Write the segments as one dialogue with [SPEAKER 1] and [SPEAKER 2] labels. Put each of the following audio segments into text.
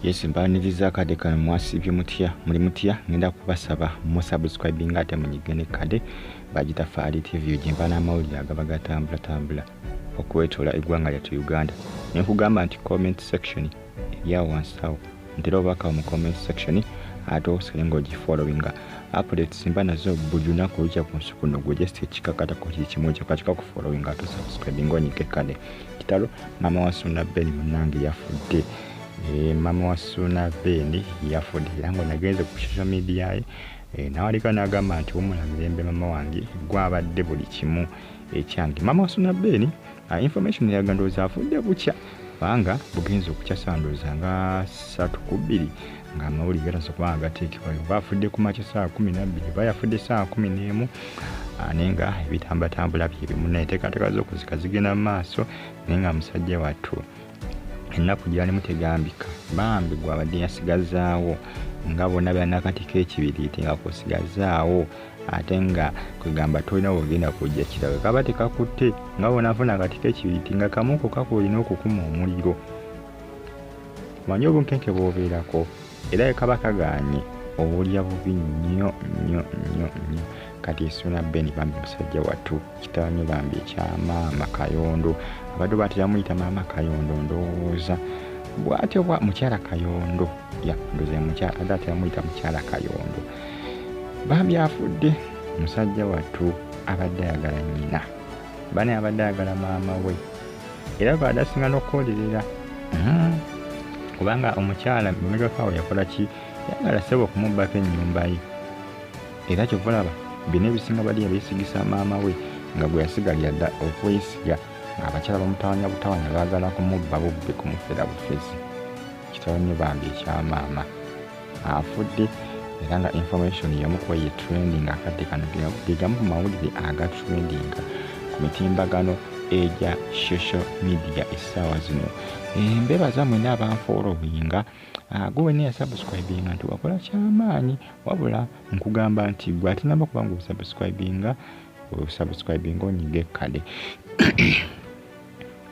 [SPEAKER 1] yes mbaniriza akade kano mwasibye mutya muli mutya ngenda kubasaba musubscribinga ate munyige ne kade bagita faali tv gyemba n'amawulire agaba gatambulatambula okwetoola eggwanga lyattu uganda ne nkugamba nti comment section eryawo wansawo ntera obubaka mu comment section ate osale ng'ogifollowinga updates mba nazo buli lunaku olukya ku nsi kuno gwe just ekikakatako kiri kimu ekyo katika kufollowinga ate osubscribinga onyige kade kitalo mama wa suna ben munange yafudde eh, mama wa suna ben yafudde era nga nagenze ku social media ye eh, nawaliko nagamba nti wumula mirembe mama wange gwabadde buli kimu ekyange mama wa suna ben ah, information yaga ndowooza afudde bukya kubanga bugenza okukya sandowooza nga satu ku bbiri nga amawulire gatasa kuba nga gateekebwayo oba afudde ku makya saa kumi nabbiri oba yafudde saa kumi n'emu ah, naye nga ebitambatambula byebimu naye teekateeka z'okuzika zigenda mu maaso naye nga musajja wattu ennaku gyalimu tegambika bambi gwabadde yasigazaawo nga bona byanakatiko ekibiriiti nga kusigazaawo ate nga kwegamba tolina wogenda kujja kirawe kaba tekakutte nga bona afuna akatiko ekibiriiti nga kamuko kakolina okukuma omuliro manya obunkenke bwobeerako era ekaba kagaanye obulya bubi nnyo nnyo nnyo nnyo kati esuna ben bambi musajja wattu kitawanyo bambi ekyamaama kayondo abadde batera muyita maama kayondo ndowooza bwatyo bwa mukyala kayondo ya ndoza mukyala adde atera muyita mukyala kayondo bambi afudde musajja wattu abadde ayagala nyina bane abadde ayagala maama we era badasinga nokukolerera hmm. kubanga omukyala mumegakawo yakola ki yagala sebo okumubbako enyumba ye era kyovalaba bino ebisinga badi yabesigisa maama we nga gwe yasigalira dda okwesiga abakyala bamutawanya butawanya bagala kumubba bubbe kumufera bufezi kitawanye bambi ekyamaama afudde era nga information yamukuwa ye trending akadde kano gegamu ku mawulire aga trending ku mitimbagano egya social media essaawa zino embebaza mwena abanfoolowinga ah, gwe wena yasubscribinga nti wakola kyamaanyi wabula nkugamba nti gwe ate namba kuba nga osubscribinga osubscribinga onyiga ekkade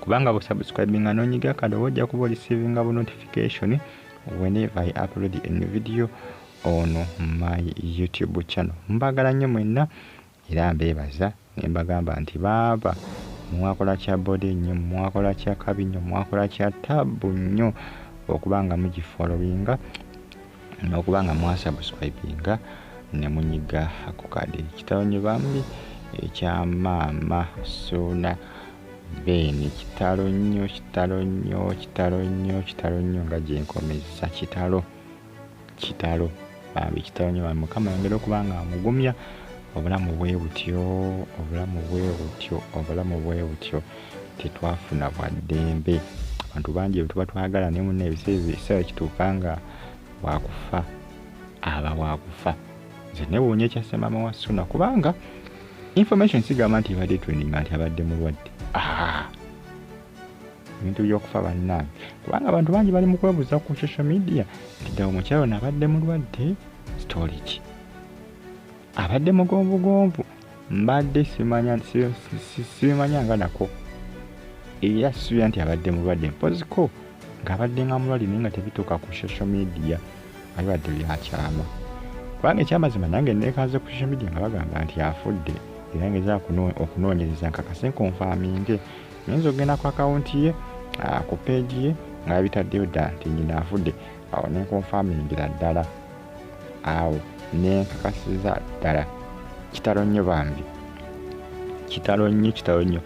[SPEAKER 1] kubanga busubscribinga nonyiga ekkade oba ojja kuba olisivinga bu notification whenever I upload a new video on my YouTube channel. Mbagala nnyo mwenna era mbeebaza ne mbagamba nti baaba mwakola kya bode nnyo mwakola kya kabi nnyo mwakola kya taabu nnyo okuba nga mugifolowinga n'okuba nga mwasubscribinga ne munyiga ku kade kitalo nnyo bambi ekya maama suuna Ben kitalo nnyo kitalo nnyo kitalo nnyo kitalo nnyo nga gyenkomezza kitalo kitalo bambi kitalo nnyo bambi mukama yongera okuba nga amugumya obulamu bwe butyo obulamu bwe butyo obulamu bwe butyo tetwafuna bwa ddembe abantu bangi bwetuba twagala naye muna ebiseera kituuka nga wakufa aba wakufa nze newuunya ekyasemama wa suna kubanga information sigamba nti ebadde training nti abadde mulwadde ah. ebintu byokufa bannange kubanga abantu bangi bali mu kwebuuza ku social media nti ddala omukyalo naabadde mulwadde story ki abadde mugonvugonvu mbadde sibimanya nga nako era sibira nti abadde mulwadde mpoziko ng'abadde nga mulwali naye nga tebituuka ku social media abibadde byakyama kubanga ekyamazima nange neekaze ku social media nga bagamba nti afudde era ngeza okunoonyereza nkakase nkonfaminge nyinza okugenda ku akawunti ye ah, ku peegi ye nga bitaddeyo dda nti nyina afudde awo nenkonfamingira ddala awo nenkakasiza ddala kitalo nnyo bambi kitalo nnyo kitalo nnyo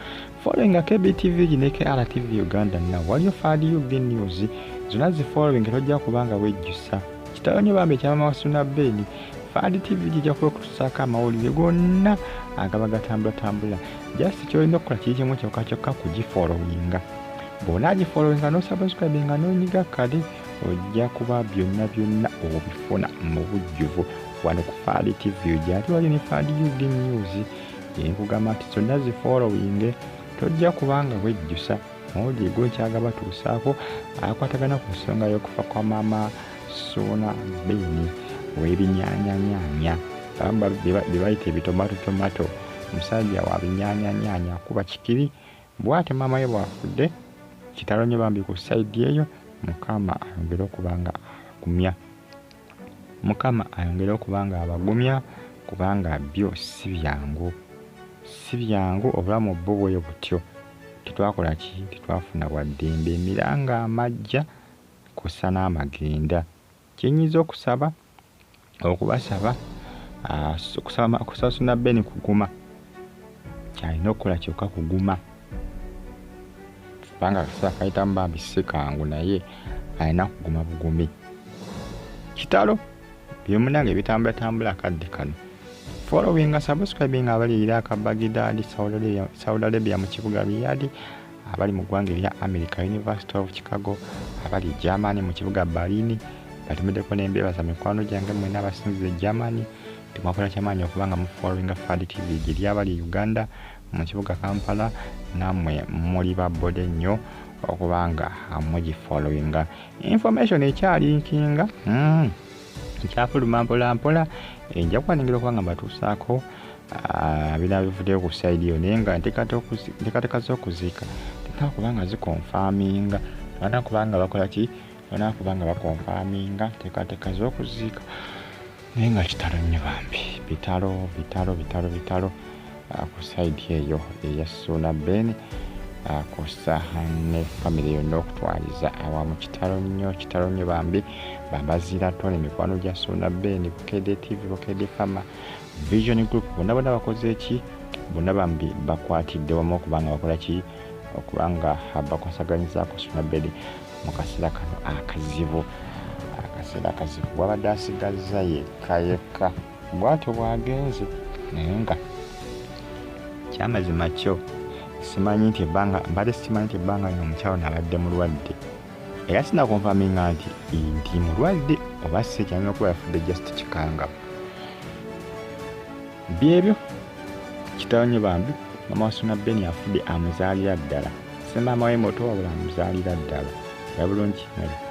[SPEAKER 1] following KBTV ne KRTV Uganda na waliyo Fad UG News zona zi following tojja kubanga wejjusa kitalo nyo bambe kyama wasuna beni Fad TV jija kuwa kutusaka amawulire gonna agaba gatambula tambula just kyolina okukola kiri kimu kyokka kyokka kugifollowinga bwona agifollowinga nosubscribinga nonyiga kale ojja kuba byonna byonna obifuna mu bujjuvu wano ku Fad TV ojja ati waliyo ne Fad UG News nkugamba nti zonna zifollowinge tojja kubanga wejjusa mawulire gonkyaga batuusaako akwatagana ku nsonga y'okufa kwa maama suuna beeni w'ebinyaanyanyaanya bamba bye bayita ebitomato tomato musajja wa binyaanyanyaanya kuba kikiri bw'ate maama ye bw'afudde kitalo nnyo bambi ku sayidi eyo mukama ayongere okuba nga agumya Mukama ayongere okuba nga abagumya kubanga byo si byangu, si byangu obulamu bwo bwe butyo. Tetwakola ki? Tetwafuna bwa ddembe, emiranga amaggya kw'ossa n'amagenda. Kye nnyinza okusaba, okubasaba, okusaba Ssuuna Ben Kuguma, kyalina okukola kyokka kuguma kubanga akaseera kayitamu bambi si kangu naye alina kuguma bugumi kitalo byomunange bitambulatambula akadde kano following nga subscribing abaliyira akabagidadi saudi arabia mu kibuga riyadi abali mu ggwanga erya america university of chicago abali germany mu kibuga balini batemedeko nembeebaza mikwano gyange mwena abasinziza e germany Temwakola kyamaanyi okuba nga mufollowinga Fad TV giri abali e Uganda mu kibuga Kampala namwe muli ba boda ennyo okuba nga mugifollowinga. Information ekyalinkinga mm, ekyafuluma mpola mpola ejja kuwaningirwa okuba nga mbatuusaako ah, bina bivuddeyo ku saidi yo naye nga nteekateeka z'okuziika tena kuba nga zikonfaminga bana kuba nga bakola ki bana kuba nga bakonfaminga nteekateeka z'okuziika naye nga kitalo nnyo bambi bitalo bitalo bitalo bitalo ah, ku saidi eyo eya suuna ben ah, kusa ne famiry yonna okutwaliza awamu kitalo nnyo kitalo nnyo bambi bambazira tone mikwano gya suuna ben bukede tv bukede fama vision group bonna bona bakoze ki bonna bambi bakwatidde wamu okubanga bakola ki okubanga bakwasaganyizako suuna bedi mu kaseera kano akazibu akaseera akazibu wabadde asigazza yekka yekka bwatyo bwagenze naye nga kyamazima kyo simanyi nti ebbanga mbadde sikimanyi nti ebbanga lino omukyalo nabadde mulwadde era sinakonfaminga nti nti mulwadde oba sikyanyina okuba yafudde just kikangabo byebyo kitawanye bambi mama wasuna beni afudde amuzaalira ddala semaama we moto wabula amuzaalira ddala era bulungi